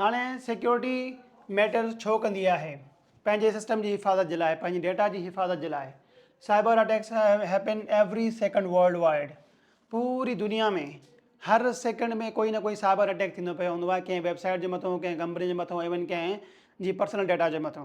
هاڻي security matter ڇو ڪندي آهي؟ پنهنجي سسٽم جي حفاظت جي لاء، پنهنجي ڊيٽا جي حفاظت جي لاء. Cyber attacks happen every second worldwide. پوري دنيا ۾ هر سيڪنڊ ۾ ڪوئي نه ڪوئي سائبر اٽيڪ ٿيندو پيو هوندو آهي، ڪنهن ويب سائيٽ جي مٿو، ڪنهن ڪمپني جي مٿو، ايون ڪنهن جي پرسنل ڊيٽا جي مٿو.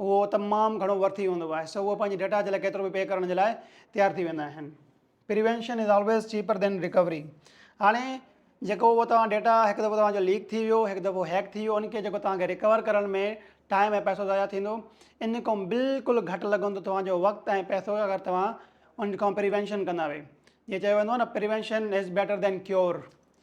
اهو تمام گهڻو ورٿي ويندو آهي سو اهي پنهنجي ڊيٽا جي لاء ڪيترو به پي ڪرڻ جي لاء تيار ٿي ويندا آهن پريوينشن از آلويز چيپر دين ريڪوري هاڻي جيڪو اهو توهان ڊيٽا هڪ دفعو توهان جو ليڪ ٿي ويو هڪ دفعو هيڪ ٿي ويو ان کي جيڪو توهان کي ريڪور ڪرڻ ۾ ٽائم ۽ پيسو ضايع ٿيندو ان کان بلڪل گهٽ لڳندو توهان جو وقت ۽ پيسو اگر توهان ان کان پريوينشن ڪندا وي جيئن چيو ويندو آهي نه prevention is better than cure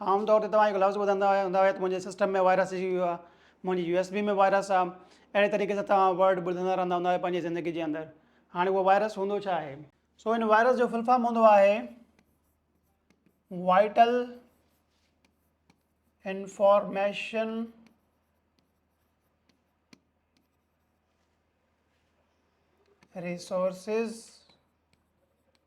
عام طور تي توهان هڪ لفظ ٻڌندا هوندا هيا ته منهنجي سسٽم ۾ وائرس اچي ويو آهي، منهنجي يو ايس بي ۾ وائرس آهي، اهڙي طريقي سان توهان ورڊ ٻڌندا رهندا هوندا هيا پنهنجي زندگي جي اندر، هاڻي اهو وائرس هوندو ڇا آهي؟ سو هن وائرس جو فل فارم هوندو آهي vital information resources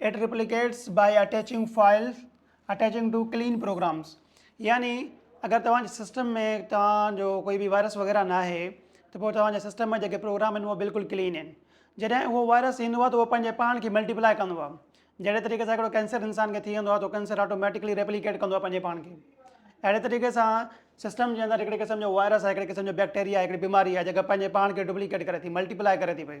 it replicates by attaching files attaching to clean programs يعني اگر توهان جي سسٽم ۾ توهان جو ڪوئي به وائرس وغيره نه آهي ته پوء توهان جي سسٽم ۾ جيڪي پروگرام آهن اهي بلڪل ڪلين آهن جڏهن اهو وائرس ايندو آهي ته اهو پنهنجي پاڻ کي ملٽيپلائي ڪندو آهي جهڙي طريقي سان هڪڙو ڪينسر انسان کي ٿي ويندو آهي ته ڪينسر آٽوميٽڪلي ريپليڪيٽ ڪندو آهي پنهنجي پاڻ کي اهڙي طريقي سان سسٽم جي اندر هڪڙي قسم جو وائرس آهي هڪڙي قسم جو بيڪٽيريا آهي هڪڙي بيماري آهي جيڪا پنهنجي پاڻ کي ڊپليڪيٽ ڪري ٿي ملٽيپلائي ڪري ٿي پئي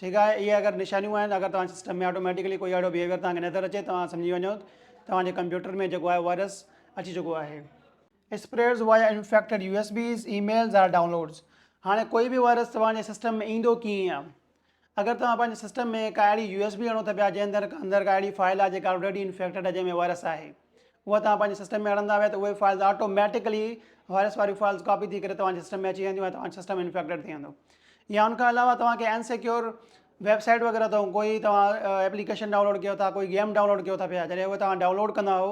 ٺيڪ آهي اهي اگر نشانيون آهن اگر توهان جي سسٽم ۾ آٽوميٽيڪلي ڪوئي اهڙو بيهيويئر توهان کي نظر اچي توهان سمجهي وڃو ته توهان جي ڪمپيوٽر ۾ جيڪو آهي وائرس اچي چڪو آهي. Spreads via infected U S Bs, emails or downloads هاڻي ڪوئي به وائرس توهان جي سسٽم ۾ ايندو ڪيئن آهي اگر توهان پنهنجي سسٽم ۾ ڪا اهڙي يو ايس بي اڻو ٿا پيا جنهن اندر ڪا اهڙي فائل آهي جيڪا آلريڊي انفيڪٽيڊ آهي جنهن ۾ وائرس آهي. اها توهان پنهنجي سسٽم ۾ اڻندا ويا ته اهي فائلز آٽو ميٽيڪلي وائرس واريون فائلز ڪاپي ٿي ڪري توهان جي سسٽم ۾ اچي وينديون ۽ توهان جو سسٽم انفيڪٽيڊ ٿي ويندو يا ان کان علاوه توهان کي ان سيڪيور ويب سائيٽ وغيرہ تون کوئي تو ايپليڪيشن ڊائونلوڊ ڪيو ٿا کوئي گيم ڊائونلوڊ ڪيو ٿا پيا جڏهن هو توهان ڊائونلوڊ ڪندا هو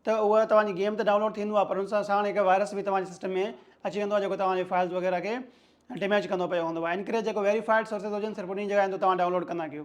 ته هو توهان جي گيم ته ڊائونلوڊ ٿيندو آهي پر ان سان ساڻ هڪ وائرس به توهان جي سسٽم ۾ اچي ويندو آهي جيڪو توهان جي فائلز وغيرہ کي ڊيميج ڪندو پيو هوندو آهي ان ڪري جيڪو ويريفائيڊ سورسز هجن صرف انهي جڳهه تي توهان ڊائونلوڊ ڪندا ڪيو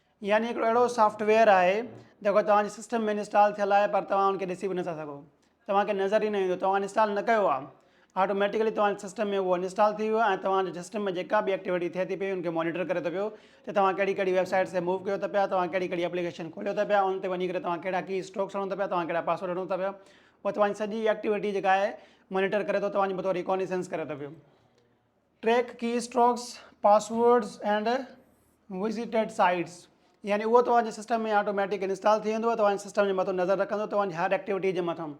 يعني هڪڙو اهڙو سافٽ ويئر آهي جيڪو توهان جي سسٽم ۾ انسٽال ٿيل آهي پر توهان ان کي ڏسي به نٿا سگهو توهان کي نظر ئي نه ايندو توهان انسٽال نه ڪيو آهي آٽوميٽڪلي توهان جي سسٽم ۾ اهو انسٽال ٿي ويو ۽ توهان جي سسٽم ۾ جيڪا به ايڪٽيوٽي ٿئي ٿي پئي ان کي مونيٽر ڪري ٿو پيو ته توهان ڪهڙي ڪهڙي ويب سائٽس تي موو ڪيو ٿا پيا توهان ڪهڙي ڪهڙي ايپليڪيشن کوليو ٿا پيا ان تي وڃي ڪري توهان ڪهڙا ڪي اسٽروڪس هڻو ٿا پيا توهان ڪهڙا پاسورڊ هڻو ٿا پيا هو توهان جي سڄي ايڪٽيوٽي جيڪا آهي مونيٽر ڪري ٿو توهان جي بطور ريڪونيسنس ڪري ٿو پيو track keystrokes passwords and visited sites يعني اهو توهان جي سسٽم ۾ آٽوميٽڪ انسٽال ٿي ويندو توهان جي سسٽم جي مٿو نظر رکندو توهان جي هر ايڪٽيوٽي جي مٿان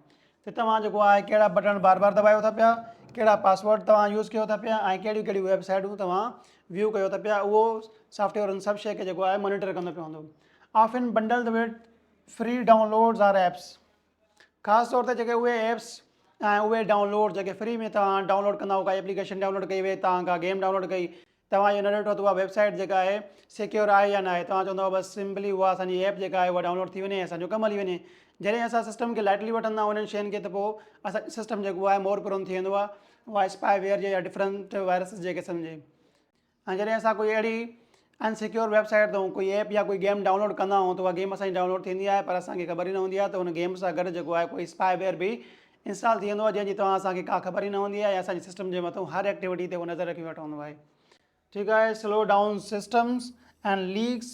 ته توهان جيڪو آهي ڪهڙا بٽن بار بار دٻايو ٿا پيا ڪهڙا پاسورڊ توهان يوز ڪيو ٿا پيا ۽ ڪهڙيون ڪهڙيون ويب سائيٽون توهان ويو ڪيو ٿا پيا اهو سافٽويئر ان سڀ شي کي جيڪو آهي مانيٽر ڪندو پيو هوندو often bundle with free downloads or apps خاص طور تي جيڪي اهي ايپس ۽ اهي ڊائونلوڊ جيڪي فري ۾ توهان ڊائونلوڊ ڪندا ڪا ايپليڪيشن ڊائونلوڊ ڪئي وئي توهان ڪا گيم ڊائونلوڊ ڪئي توهان اهو نه ڏٺو ته اها ويب سائيٽ جيڪا آهي سيڪيور آهي يا نه آهي توهان چوندو بس سمپلي اها اسانجي ايپ جيڪا آهي اها ڊائونلوڊ ٿي وڃي ۽ اسانجو ڪم هلي وڃي جڏهن اسان سسٽم کي لائٽلي وٺندا آهيون انهن شين کي ته پوء اسانجو سسٽم جيڪو آهي مور پرون ٿي ويندو آهي وائس پائي ويئر جي يا ڊفرنٽ وائرسز جيڪي سمجهي هاڻي جڏهن اسان ڪوئي اهڙي ان سيڪيور ويب سائيٽ تون ڪوئي ايپ يا ڪوئي گيم ڊائونلوڊ ڪندا آهيون ته اها گيم اسان جي ڊائونلوڊ ٿيندي آهي پر اسان کي خبر ئي نه هوندي آهي ته ان گيم سان گڏ جيڪو آهي ڪوئي اسپائي ويئر به انسٽال ٿي ويندو آهي جنهن جي توهان اسان کي ڪا خبر ئي نه هوندي آهي ۽ اسان جي سسٽم جي مٿون هر ايڪٽيوٽي تي هو نظر رکي ويٺو هوندو آهي. ٺيڪ آهي slow down systems and leaks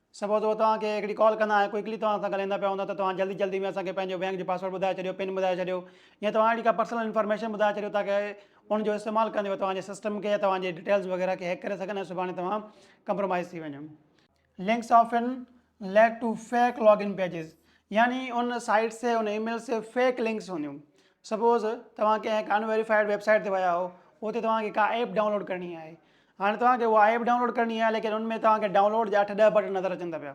suppose هو توهان کي هڪڙي ڪال ڪندا ۽ ڪوئڪلي توهان سان ڳالهائيندا پيا هوندا ته توهان جلدي جلدي ۾ اسان کي پنهنجو بينڪ جو پاسورڊ ٻڌائي ڇڏيو پن ٻڌائي ڇڏيو يا توهان اهڙي ڪا پرسنل انفارميشن ٻڌائي ڇڏيو تاڪه ان جو استعمال ڪندي هو توهان جي سسٽم کي يا توهان جي ڊيٽيلز وغيره کي هيڪ ڪري سگهن ۽ سڀاڻي توهان ڪمپرومائز ٿي وڃو links often lead to fake login pages يعني ان سائيٽ سي ان اي ميل سي فيڪ لنڪس هونديون سپوز توهان ڪنهن ڪان ويريفائيڊ ويب سائيٽ تي ويا هو اتي توهان کي ڪا ايپ ڊائونلوڊ ڪرڻي آهي هاڻي توهان کي اها ايپ ڊائونلوڊ ڪرڻي آهي ليڪن ان ۾ توهان کي ڊائونلوڊ جا اٺ ڏهه بٽڻ نظر اچن ٿا پيا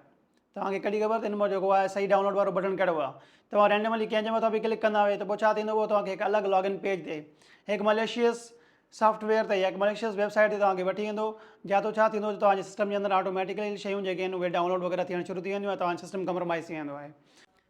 توهان کي ڪڏي خبر ته ان مان جيڪو آهي صحيح ڊائونلوڊ وارو بٽڻ ڪهڙو آهي توهان رينڊملي ڪنهن جي مٿان به ڪلڪ ڪندا اهي ته پوء ڇا ٿيندو اهو توهان کي هڪ الڳ لاگ ان پيج تي هڪ مليشيس سافٽ ويئر تي يا هڪ مليشيس ويب سائيٽ تي توهان کي وٺي ويندو جا تو ڇا ٿيندو ته توهان جي سسٽم جي اندر آٽوميٽيڪلي شيون جيڪي آهن اهي ڊائونلوڊ وغيره ٿيڻ شروع ٿي وينديون ۽ توهان جو سسٽم ڪمپرومائز ٿي ويندو آهي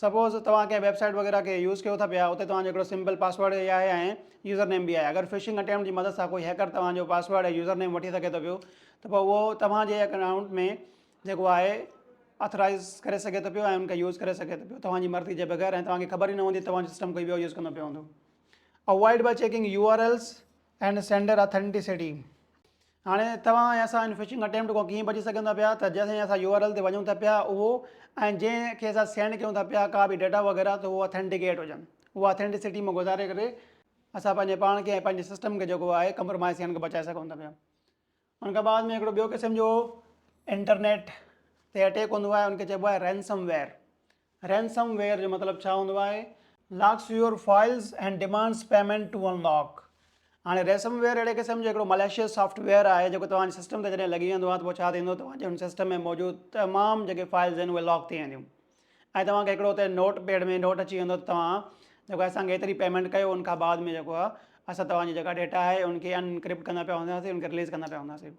سپوز توهان ڪنهن ويب سائيٽ وغيره کي يوز ڪيو ٿا پيا اتي توهان جو هڪڙو سمپل پاسورڊ اي آهي ۽ يوزر نيم به آهي اگر فشنگ اٽيمپٽ جي مدد سان ڪوئي هيڪر توهان جو پاسورڊ ۽ يوزر نيم وٺي سگهي ٿو پيو ته پوء اهو توهان جي اڪائونٽ ۾ جيڪو آهي اٿرائيز ڪري سگهي ٿو پيو ۽ ان کي يوز ڪري سگهي ٿو پيو توهان جي مرضي جي بغير ۽ توهان کي خبر ئي نه هوندي توهان جو سسٽم ڪوئي ٻيو يوز ڪندو پيو هوندو avoid by checking U R Ls and sender authenticity هاڻي توهان ۽ اسان ان فشنگ اٽيمپٽ کان ڪيئن بچي سگهون ٿا پيا ته جنهن سان اسان يو آر ايل تي وڃون ٿا پيا اهو ۽ جنهن کي اسان سينڊ ڪيون ٿا پيا ڪا به ڊيٽا وغيره ته هو اٿينٽيڪيٽ هجن اها اٿينٽيسٽي مان گذاري ڪري اسان پنهنجي پاڻ کي ۽ پنهنجي سسٽم کي جيڪو آهي ڪمپرومائز ٿيڻ کان بچائي سگهون ٿا پيا ان کان بعد ۾ هڪڙو ٻيو قسم جو انٽرنيٽ تي اٽيڪ هوندو آهي ان کي چئبو آهي رينسم ويئر Ransom ware جو مطلب ڇا هوندو آهي؟ Locks your files and demands payment to unlock هاڻي ريسم ويئر اهڙي قسم جو هڪڙو مليشيس سافٽ ويئر آهي جيڪو توهان جي سسٽم تي جڏهن لڳي ويندو آهي ته پوء ڇا ٿيندو توهان جي ان سسٽم ۾ موجود تمام جيڪي فائلز آهن اهي لاڪ ٿي وينديون ۽ توهان کي هڪڙو اتي نوٽ پيڊ ۾ نوٽ اچي ويندو ته توهان جيڪو اسان کي ايتري پيمنٽ ڪيو ان کان بعد ۾ جيڪو آهي اسان توهان جي جيڪا ڊيٽا آهي ان کي انڪرپٽ ڪندا پيا هونداسين ان کي رليز ڪندا پيا هونداسين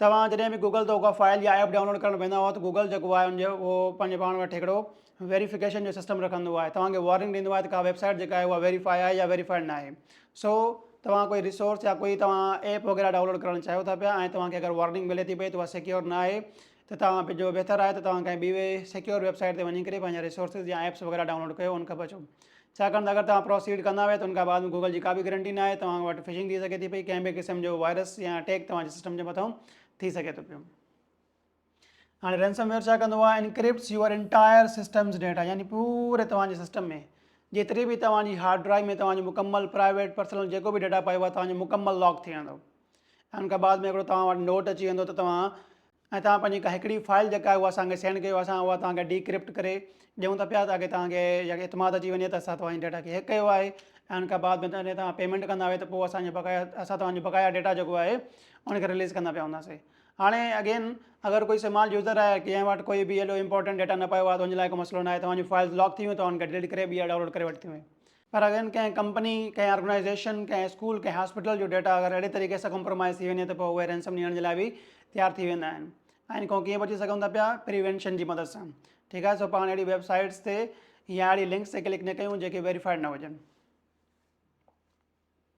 توهان جڏهن به گوگل تان ڪا فائل يا ايپ ڊائونلوڊ ڪرڻ ويندا آهيو ته گوگل جيڪو آهي ان جو اهو پنهنجي پاڻ وٽ هڪڙو ويريفڪيشن جو سسٽم رکندو آهي توهان کي وارننگ ڏيندو آهي ته ڪا ويب سائيٽ جيڪا آهي اها ويريفائي آهي يا ويريفائيڊ ناهي سو توهان ڪوئي ريسورس يا ڪوئي توهان ايپ وغيره ڊائونلوڊ ڪرڻ چاهيو ٿا پيا ۽ توهان کي اگر وارننگ ملي ٿي پئي ته اها سيڪيور ناهي ته توهان به جو بهتر آهي ته توهان ڪنهن ٻي سيڪيور ويب سائيٽ تي وڃي ڪري پنهنجا ريسورسز يا ايپس وغيره ڊائونلوڊ ڪيو ان کان بچو ڇاڪاڻ ته اگر توهان پروسيڊ ڪندا ويا ته ان کان بعد ۾ گوگل جي ڪابه گرنٽي نه آهي توهان وٽ فشنگ ٿي سگهي ٿي پئي ڪنهن به قسم جو وائرس يا اٽيڪ توهان جي سسٽم جي مٿان ٿي سگهي ٿو پيو هاڻي رينسم ويئر ڇا ڪندو آهي encrypts your entire systems data يعني پوري توهان جي سسٽم ۾ جيتري به توهان جي هارڊ ڊرائيو ۾ توهان جو مڪمل پرائيويٽ پرسنل جيڪو به ڊيٽا پايو آهي توهان جو مڪمل لاڪ ٿي ويندو ان کان بعد ۾ هڪڙو توهان وٽ نوٽ اچي ويندو ته توهان ۽ توهان پنهنجي ڪا هڪڙي فائل جيڪا آهي اها اسان کي سينڊ ڪيو اسان اها توهان کي ڊيڪرپٽ ڪري ڏيون ٿا پيا تاڪي توهان کي يا اعتماد اچي وڃي ته اسان توهان جي ڊيٽا کي هيڪ ڪيو آهي ۽ ان کان بعد ۾ توهان پيمنٽ ڪندا آهيو ته پوء اسان جي بقايا اسان توهان جو بقايا ڊيٽا جيڪو آهي ان کي رليز ڪندا پيا هوندا سي هاڻي اگين اگر ڪوئي سمال يوزر آهي جنهن وٽ ڪوئي به ايڏو امپورٽنٽ ڊيٽا نه پيو آهي ته ان لاء ڪو مسئلو نه آهي توهان جون فائلز لاڪ ٿي ويون توهان ان کي ڊليٽ ڪري ٻيا ڊائونلوڊ ڪري وٺتيون پر اگر ڪنهن ڪمپني، ڪنهن آرگنائيزيشن، ڪنهن اسڪول، ڪنهن هاسپيٽل جو ڊيٽا اگر اهڙي طريقي سان ڪمپرومائيز ٿي وڃي ته پوء اهي رينسم ڏيڻ جي لاء به تيار ٿي ويندا آهن. آئين کان ڪيئن بچي سگهون ٿا پيا؟ پريوينشن جي مدد سان. ٺيڪ آهي سو پاڻ اهڙي ويب سائيٽس تي يا اهڙي لنڪس تي ڪلڪ نه ڪيون جيڪي ويريفائيڊ نه هجن.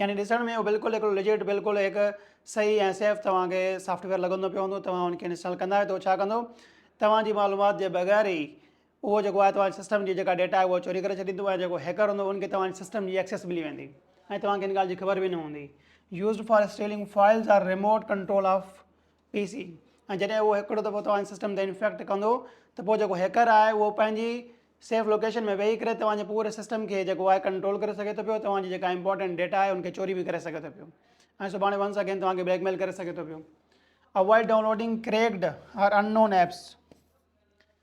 يعني ڏسڻ ۾ اهو بلڪل هڪڙو لجيٽ بلڪل هڪ صحيح ۽ سيف توهان کي سافٽ ويئر لڳندو پيو هوندو توهان ان کي انسٽال ڪندا آهيو ته ڇا ڪندو توهان جي معلومات جي بغير ئي اهو جيڪو آهي توهان سسٽم جي جيڪا ڊيٽا آهي اها چوري ڪري ڇڏيندو ۽ جيڪو هيڪر هوندو ان کي توهان جي سسٽم جي ايڪسيس ملي ويندي ۽ توهان کي ان ڳالهه جي خبر به نه هوندي used for stealing files or remote control of P C ۽ جڏهن اهو هڪڙو دفعو توهان جي سسٽم تي انفيڪٽ ڪندو ته پوء جيڪو هيڪر آهي اهو پنهنجي سيف لوڪيشن ۾ ويهي ڪري توهان جي پوري سسٽم کي جيڪو آهي ڪنٽرول ڪري سگهي ٿو پيو توهان جي جيڪا امپورٽنٽ ڊيٽا آهي ان کي چوري به ڪري سگهي ٿو پيو ۽ سڀاڻي ونس اگين توهان کي بليڪ ميل ڪري سگهي ٿو پيو avoid downloading cracked or unknown apps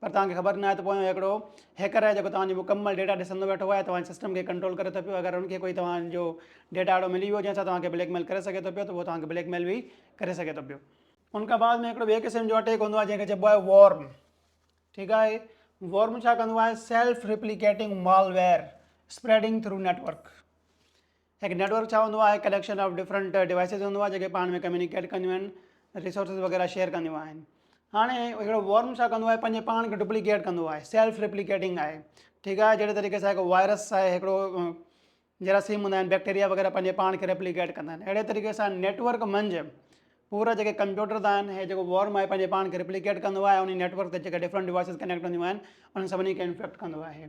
پر توهان کي خبر ناهي ته پويان هڪڙو هيڪر آهي جيڪو توهان جو مڪمل ڊيٽا ڏسندو ويٺو آهي ۽ توهان جي سسٽم کي ڪنٽرول ڪري ٿو پيو اگر ان کي ڪوئي توهان جو ڊيٽا اهڙو ملي ويو جنهن سان توهان کي بليڪ ميل ڪري سگهي ٿو پيو ته اهو توهان کي بليڪ ميل به ڪري سگهي ٿو پيو. ان کان بعد ۾ هڪڙو ٻئي قسم جو اٽيڪ هوندو آهي جنهن کي چئبو آهي وورم ٺيڪ آهي وورم ڇا ڪندو آهي self replicating malware spreading through network هڪ نيٽ ورڪ ڇا هوندو آهي؟ ڪليڪشن آف ڊفرنٽ ڊوائسز هوندو آهي جيڪي پاڻ ۾ ڪميونيڪيٽ ڪنديون آهن ريسورسز وغيره شيئر ڪنديون آهن هاڻي هڪڙو وورم ڇا ڪندو آهي پنهنجي پاڻ کي ڊپليڪيٽ ڪندو آهي سيلف ڊپليڪيٽنگ آهي ٺيڪ آهي جهڙي طريقي سان هڪ وائرس آهي هڪڙو جراثيم هوندا آهن بيڪٽيريا وغيره پنهنجي پاڻ کي ڊپليڪيٽ ڪندا آهن اهڙي طريقي سان نيٽورڪ منجھ پورا جيڪي ڪمپيوٽرز آهن هي جيڪو وورم آهي پنهنجي پاڻ کي ڊپليڪيٽ ڪندو آهي ان نيٽورڪ تي جيڪي ڊفرنٹ ڊوائسز ڪنيڪٽ هونديون آهن انهن سڀني کي انفيڪٽ ڪندو آهي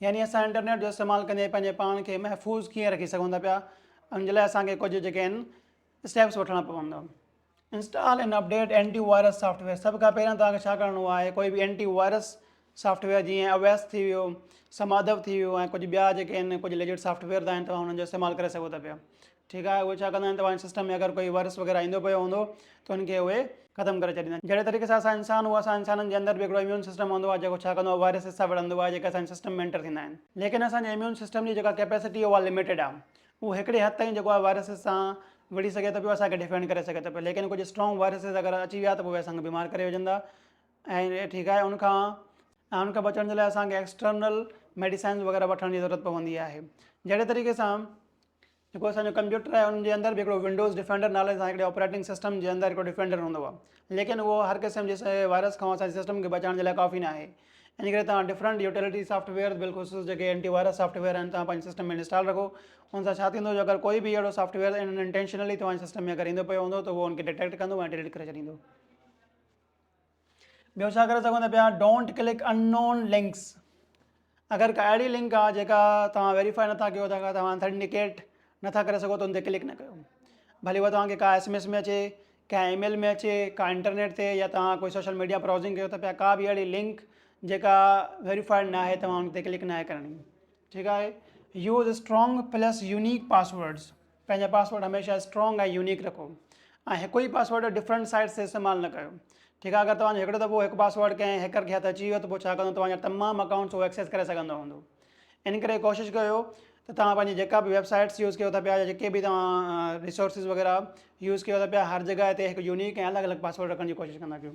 يعني اسان انٽرنيٽ جو استعمال ڪندي پنهنجي پاڻ کي محفوظ ڪيئن رکي سگهون ٿا پيا ان جي لاء اسان کي ڪجهه جيڪي آهن اسٽيپس وٺڻا پوندا install and update antivirus software سڀ کان پهريان توهان کي ڇا ڪرڻو آهي ڪوئي به اينٽي وائرس سافٽويئر جيئن اويس ٿي ويو سمادو ٿي ويو ۽ ڪجهه ٻيا جيڪي آهن ڪجهه ليجيٽ سافٽويئر آهن توهان انهن جو استعمال ڪري سگهو ٿا پيا ٺيڪ آهي اهي ڇا ڪندا آهن ته اوهان جي سسٽم ۾ اگر ڪوئي ورس وغيره ايندو پيو هوندو ته ان کي اهي ختم ڪري ڇڏيندا آهن جهڙي طريقي سان اسان انسان هو اسان انسانن جي اندر به هڪڙو اميون سسٽم هوندو آهي جيڪو ڇا ڪندو آهي وائرسز سان وڙهندو آهي جيڪي اسان جي سسٽم ۾ انٽر ٿيندا آهن ليڪن اسان جي اميون سسٽم جي جيڪا ڪيپيسٽي اهو لميٽيڊ آهي اهو هڪڙي حد تائين جيڪو آهي وائرسز سان وڙهي سگهي ٿو پيو اسان کي ڊفينڊ ڪري سگهي ٿو پيو ليڪن ڪجهه اسٽرانگ وائرسز اگر اچي ويا ته پوء اهي اسان کي بيمار ڪري وجهندا ۽ ٺيڪ آهي ان کان ان کان بچڻ جي لاء اسان کي ايڪسٽرنل ميڊيسائنز وغيره وٺڻ جي ضرورت پوندي آهي جهڙي طريقي سان جيڪو اسان جو ڪمپيوٽر آهي ان جي اندر به هڪڙو ونڊوز ڊفينڊر نالي سان هڪڙي آپريٽنگ سسٽم جي اندر هڪڙو ڊفينڊر هوندو آهي ليڪن اهو هر قسم جي وائرس کان اسان جي سسٽم کي بچائڻ جي لاء ڪافي نه آهي ان ڪري تان ڊفرنٽ يوٽيلٽي سافٽ ويئر بالخصوص جيڪي اينٽي وائرس سافٽ ويئر آهن تان پنهنجي سسٽم ۾ انسٽال رکو ان سان ڇا ٿيندو جو اگر ڪوئي به اهڙو سافٽ ويئر ان انٽينشنلي توهان جي سسٽم ۾ اگر ايندو پيو هوندو ته اهو ان کي ڊيٽيڪٽ ڪندو ۽ ڊيليٽ ڪري ڇڏيندو ٻيو ڇا ڪري سگهون ٿا پيا don't click unknown links اگر ڪا اهڙي لنڪ آ جيڪا توهان ويريفائي نٿا ڪيو ٿا توهان انٿينٽيڪيٽ نٿا ڪري سگهو ته ان تي ڪلڪ نه ڪيو ڀلي هو توهانکي ڪا ايس ايم ايس ۾ اچي ڪا اي ميل ۾ اچي ڪا انٽرنيٽ تي يا توهان ڪوئي سوشل ميڊيا براؤزنگ ڪيو ٿا پيا ڪا بي اهڙي لنڪ جيڪا ويريفائيڊ ناهي توهان ان تي ڪلڪ ناهي ڪرڻي ٺيڪ آهي use strong plus unique passwords پنهنجا پاسورڊ هميشه اسٽرانگ ۽ يونيڪ رکو ۽ هڪ ئي پاسورڊ ڊفرنٽ سائيٽس تي استعمال نه ڪيو ٺيڪ آهي اگر توهان جو هڪڙو دفعو هڪ پاسورڊ ڪنهن هيڪر کي هٿ اچي ويو ته پوء ڇا ڪندو توهان جا تمام اڪائونٽس هو ايڪسيس ڪري سگهندو هوندو ان ڪري ڪوشش ڪيو ته توهان پنهنجي جيڪا به ويب سائيٽس يوز ڪيو ٿا پيا يا جيڪي به توهان ريسورسز وغيره يوز ڪيو ٿا پيا هر جڳهه تي هڪ يونيڪ ۽ الڳ الڳ پاسورڊ رکڻ جي ڪوشش ڪندا ڪيو.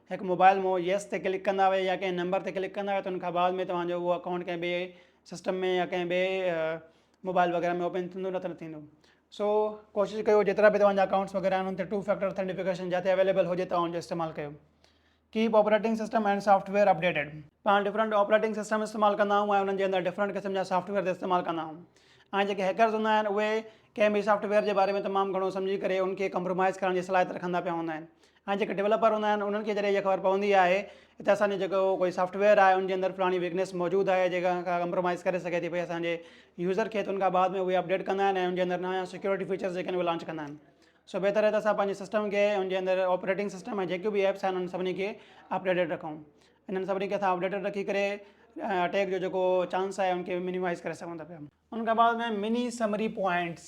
هڪ موبائل مون ييس تي ڪلڪ ڪندا ويا يا ڪنهن نمبر تي ڪلڪ ڪندا ويا ته ان کان بعد ۾ توهان جو اهو اڪائونٽ ڪنهن ٻئي سسٽم ۾ يا ڪنهن ٻئي موبائل وغيره ۾ اوپن ٿيندو نه ته نه ٿيندو سو ڪوشش ڪيو جيترا به توهان جا اڪائونٽس وغيره آهن ان تي ٽو فيڪٽر اٿينٽيفڪيشن جتي اويليبل هجي توهان ان جو استعمال ڪيو keep operating system and software updated پاڻ ڊفرنٽ آپريٽنگ سسٽم استعمال ڪندا آهيون ۽ انهن جي اندر ڊفرنٽ قسم جا سافٽ ويئر استعمال ڪندا آهيون ۽ جيڪي هيڪرز هوندا آهن اهي ڪنهن به سافٽ ويئر جي باري ۾ تمام گهڻو سمجهي ڪري ان کي ڪمپرومائز ڪرڻ جي صلاحيت رکندا پيا هوندا آهن ۽ جيڪي ڊولپر هوندا آهن انهن کي جڏهن اها خبر پوندي آهي ته اسان جو جيڪو ڪوئي سافٽ ويئر آهي ان جي اندر فلاڻي ويڪنيس موجود آهي جيڪا کان ڪمپرومائز ڪري سگهي ٿي پئي اسان جي يوزر کي ته ان کان بعد ۾ اهي اپڊيٽ ڪندا آهن ۽ ان جي اندر نيا سيڪيورٽي فيچرس جيڪي آهن اهي لانچ ڪندا آهن سو بهتر آهي ته اسان پنهنجي سسٽم کي ان جي اندر آپريٽنگ سسٽم ۽ جيڪيون بي ايپس آهن انهن سڀني کي اپڊيٽيڊ رکون انهن سڀني کي اسان اپڊيٽيڊ رکي ڪري اٽيڪ جو جيڪو چانس آهي ان کي مينيمائز ڪري سگهون ٿا پيا ان کان بعد ۾ مني سمري پوائنٽس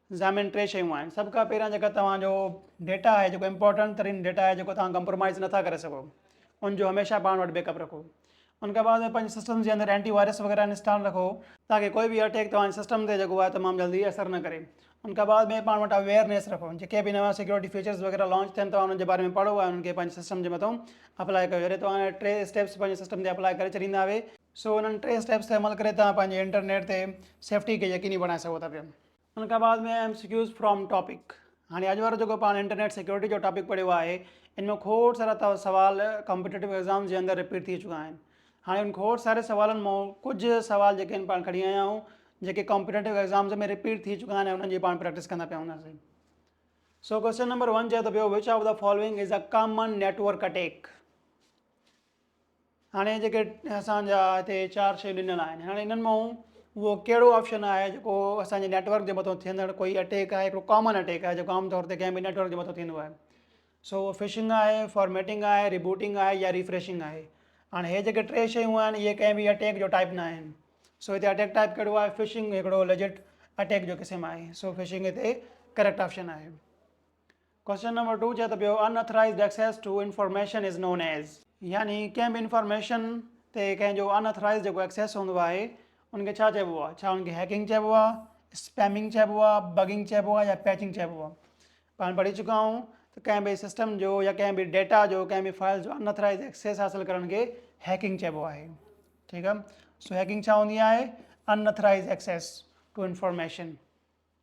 زا ۾ ٽي شيون آهن سڀ کان پهريان جيڪا توهان جو ڊيٽا آهي جيڪو امپورٽنٽ ترين ڊيٽا آهي جيڪو توهان ڪمپرومائز نٿا ڪري سگهو ان جو هميشه پاڻ وٽ بيڪ اپ رکو ان کان بعد پنهنجي سسٽم جي اندر اينٽي وائرس وغيره انسٽال رکو تاڪي ڪوئي به اٽيڪ توهان جي سسٽم تي جيڪو آهي تمام جلدي اثر نه ڪري ان کان بعد ۾ پاڻ وٽ اويئرنيس رکو جيڪي به نوان سيڪيورٽي فيچرز وغيره لانچ ٿين توهان انهن جي باري ۾ پڙهو ۽ انهن کي پنهنجي سسٽم جي مٿو اپلائي ڪيو جڏهن توهان اهي ٽي اسٽيپس پنهنجي سسٽم تي اپلائي ڪري ڇڏيندا اهي سو انهن ٽي اسٽيپس تي عمل ڪري توهان پنهنجي انٽرنيٽ تي سيفٽي کي يقيني بڻائي سگهو ٿا پيا ان کان بعد ۾ M C Qs from topic هاڻي اڄ وارو جيڪو پاڻ انٽرنيٽ سيڪيورٽي جو ٽاپڪ پڙهيو آهي ان ۾ کوڙ سارا سوال ڪمپيٽيو ايگزام جي اندر رپيٽ ٿي چڪا آهن هاڻي ان کوڙ ساري سوالن مو ڪجهه سوال جيڪي آهن پاڻ کڻي آيا آهيون جيڪي ڪمپيٽيو ايگزامز ۾ رپيٽ ٿي چڪا آهن انهن جي پاڻ پريڪٽس ڪندا پيا هونداسين سو ڪوشچن نمبر ون چئي ٿو پيو which of the following is a common network attack هاڻي جيڪي اسان جا هتي چار شيون ڏنل آهن هاڻي انهن مان اهو ڪهڙو آپشن آهي جيڪو اسان جي نيٽورڪ جي مٿو ٿيندڙ ڪوئي اٽيڪ آهي هڪڙو ڪامن اٽيڪ آهي جيڪو عام طور تي ڪنهن به نيٽورڪ جي مٿو ٿيندو آهي سو اهو فشنگ آهي فارميٽنگ آهي ريبوٽنگ آهي يا ريفريشنگ آهي هاڻي هي جيڪي ٽي شيون آهن اهي ڪنهن به اٽيڪ جو ٽائپ نه آهن سو هتي اٽيڪ ٽائپ ڪهڙو آهي فشنگ هڪڙو ليجٽ اٽيڪ جو قسم آهي سو فشنگ هتي ڪريڪٽ آپشن آهي Question number two چئي ٿو پيو unauthorized access to information is known as. يعني ڪنهن به انفارميشن تي ڪنهن جو ان اٿرائيزڊ جيڪو ايڪسيس هوندو آهي ان کي ڇا چئبو آهي؟ ڇا ان کي هيڪنگ چئبو آهي، اسپيمنگ چئبو آهي، بگنگ چئبو آهي يا پيچنگ چئبو آهي؟ پاڻ پڙهي چڪا آهيون ته ڪنهن به سسٽم جو يا ڪنهن به ڊيٽا جو ڪنهن به فائل جو ان اٿرائيزڊ ايڪسيس حاصل ڪرڻ کي هيڪنگ چئبو آهي ٺيڪ آهي سو هيڪنگ ڇا هوندي آهي unauthorized access to information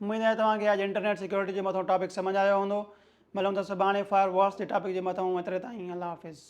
اميد آهي توهان کي اڄ انٽرنيٽ سيڪيورٽي جي مٿئون ٽاپڪ سمجهه آيو هوندو ملون ٿا سڀاڻي فائر والس جي ٽاپڪ جي مٿئون ايتري تائين الله حافظ.